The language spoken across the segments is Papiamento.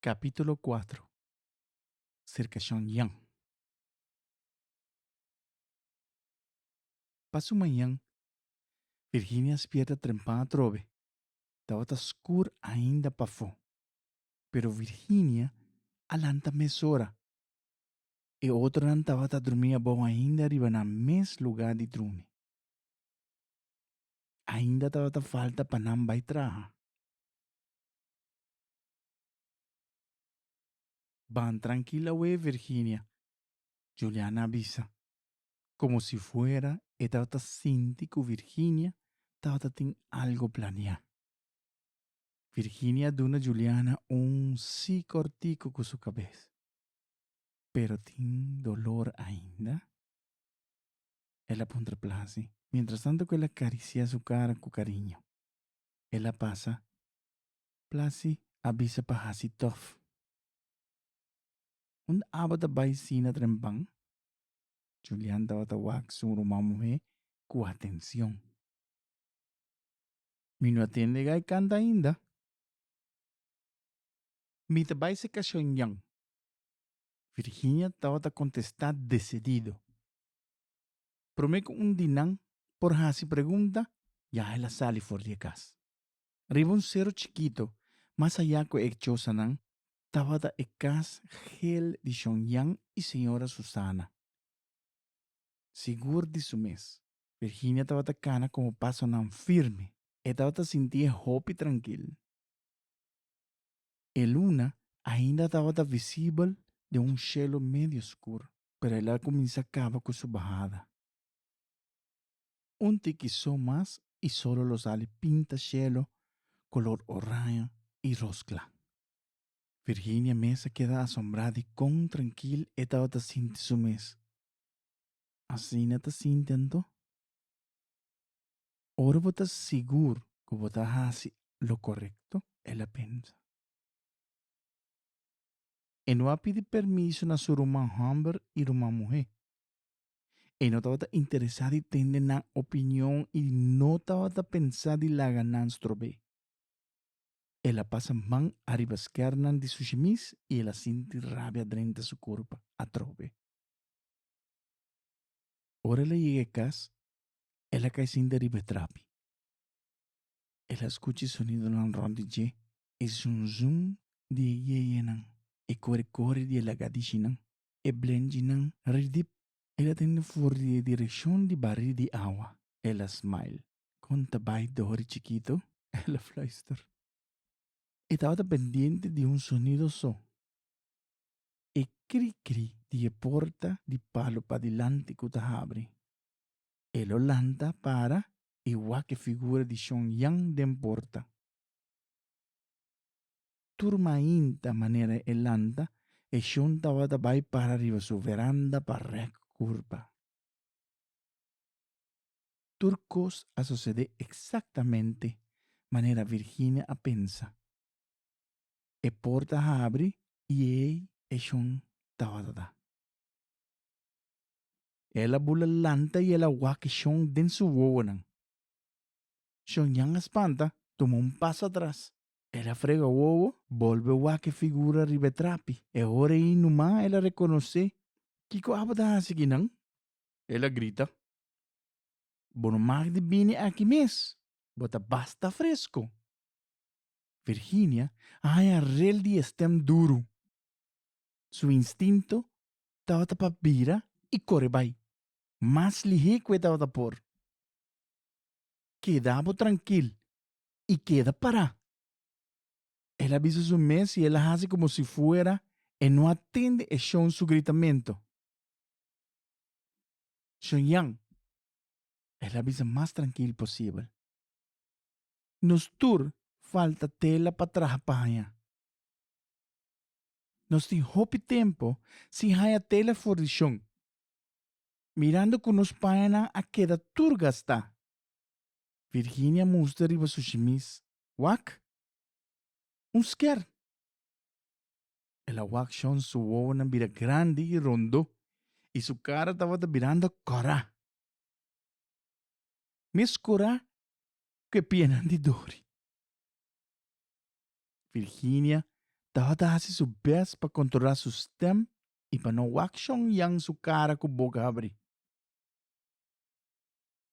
Capítulo 4 Sircacion Yen Pa su mañan, Virginia spierta trempá atrobe. Tabata skur ainda pafó, pero Virginia a lanta mesora. E otronan tabata drumí abou ainda riba nan mes lugá di drumi. Ainda tabata falta pa nan bai traha. Ban trankil awe, Virginia, Juliana a bisa. Komo si fuera e tabata sinti ku Virginia tabata tin algu planeá. Virginia a duna Juliana un sí kòrtiku ku su kabes. Pero tin dolor ainda? El a puntra plasi, mientrastantu ku el a karisiá su kara ku kariño. El a pasa Plasi a bisa pa hasi turf. Un tabata bai sina trempan. Julian tabata wak su ruman muhé ku atenshon. Mi no a tende gai kanta ainda. Mi ta bai se kashon yan. Virginia tabata kontestá desedido. Promé ku un di nan por hasi pregunta, ya el a sali for di e kas. Riba un seru chikitu mas ayá ku e chosanan tabata e kas gel di Shon Yan i señora Susana. Sigur di su mes, Virginia tabata kana komo pasonan firme. E tabata sintié hopi trankil. E luna ainda tabata visibel den un shelu medio skur, pero el a kuminsá kaba ku su bahada. Un tiki so mas i solo lo sali pinta shelo kolor oraño i ros kla. Virginia mes a keda asombrá di kon trankil e tabata sinti su mes. Asina ta sinti anto? Ora bo ta sigur ku bo ta hasi lo korekto, el a pensa. E no a pidi permiso na su ruman hòmber i ruman muhé. E no tabata interesá di tende nan opinion i no tabata pensá di laga nan strob'é. El a pasa man ariba skèrnan di su shemis i el a sinti rabia drenta su kurpa atrobe. Ora el a yega e kas, el a kai sinta riba e trapi. El a skucha e sonidonan rònt di dje, e zunzun di e yeyenan, e kore kore di e laga di shinan. E blenjinan ri dip. El a tende for di e direkshon di barí di awa. El a smile. Kon ta bai Dori chikito? El a fluister. E tabata pendiente di un sonido so, e kri-kri di e porta di palu padilanti ku ta habri. El lo lanta, para, i wak e figura di Shon Yan den porta. tur mainta manera e lanta, e shon tabata bai para riba su veranda pa rèk kurpa. Tur kos a sosede eksaktamente manera Virginia a pensa. E porta habri i ei e shon tabata ta. El a bula lanta i el a wak e shon den su wowonan. Shonyan a spanta, tuma un pas atras El a frega wowo, bolbe wak e figura riba e trapi. E hora ei numa el a rekonosé, Kiko abo ta hasi aki nan? El a grita, Bo no mag di bini aki mes, bo ta basta fresko! Virginia a haña rel di e stem duru. Su instinto tabata pa bira i kore bai, mas lihé ku e tabata por. Keda bo trankil, i keda pará. El a bisa su mes i el a hasi komo si fuera e no a tende e shon su gritamentu. Shon Jan, el a bisa mas trankil posibel. Nos tur falta tela pa traha pa haña. Nos tin hopi tempu sin haña tela for di shon, mirando ku nos pañanan a keda tur gastá. Virginia mustra riba su shimis, Wak! Un sker! El a wak shon su wowonan bira grandi i rondó i su kara tabata birando kòrá. Mes kòrá ku e pianan di dori. Virginia tabata hasi su bèst pa kontrolá su stèm i pa no wak shon yan su kara ku boka habrí.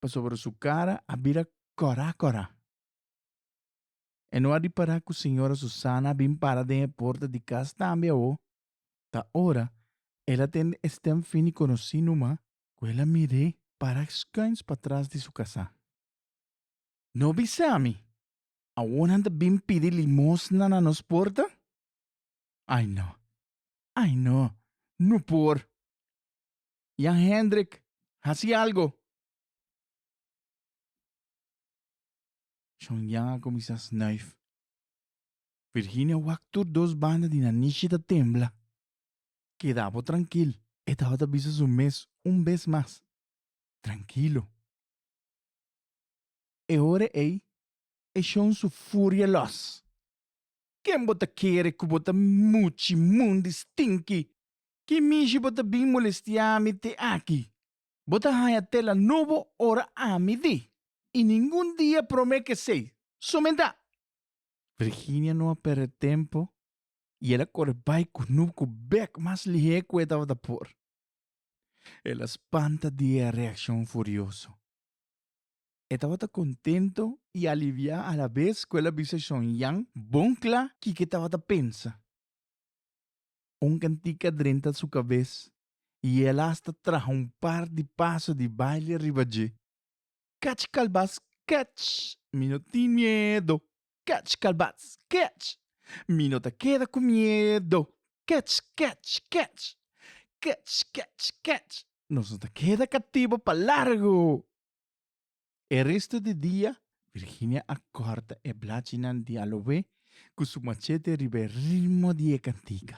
Pasobra su cara a bira cora cora. E no a ripara cu señora Susana a bin para den e porta di cas tambe awo, ta ora el a tende e stem fini conoci numa cu el a mir'é para schuins patras di su casa. No bisami, awo nan ta bin pidi limosna na nos porta? Ai no, ai no, no por! Jan Hendrik, hasi algo! Shon Jan a kuminsá snuif. Virginia wak tur dos banda di nanishi ta tembla. Keda bo trankil, e tabata bisa su mes un bes mas. Trankilo. E ora ei e Shon su furia lòs. Ken bo ta kere ku bo ta muchi mundi stinki? Ki mishi bo ta bin molestia mi te aki? Bo ta haña tela nobo ora ami di, i ningun dia prome kesei, somentá! Virginia no a perde tempu i el a kore bai ku Nup ku bèk mas lihé ku e tabata por. El a spanta di e reakshon furioso. E tabata kontentu i aliviá alabes ku el a bisa Shongyang bon kla kiko e tabata pensa. un cantica drenta su cabes y el hasta traha un par di paso di baile riba dje. Catch calbats, catch! Mi no tin miedo! Catch calbats, catch! Mi no ta keda cu miedo! Catch, catch, catch! Catch, catch, catch! Nos no ta keda catibo pa largo! E resto di dia, Virginia a kòrta e blachinan di aloe ku su machete riba e ritmo di e kantika.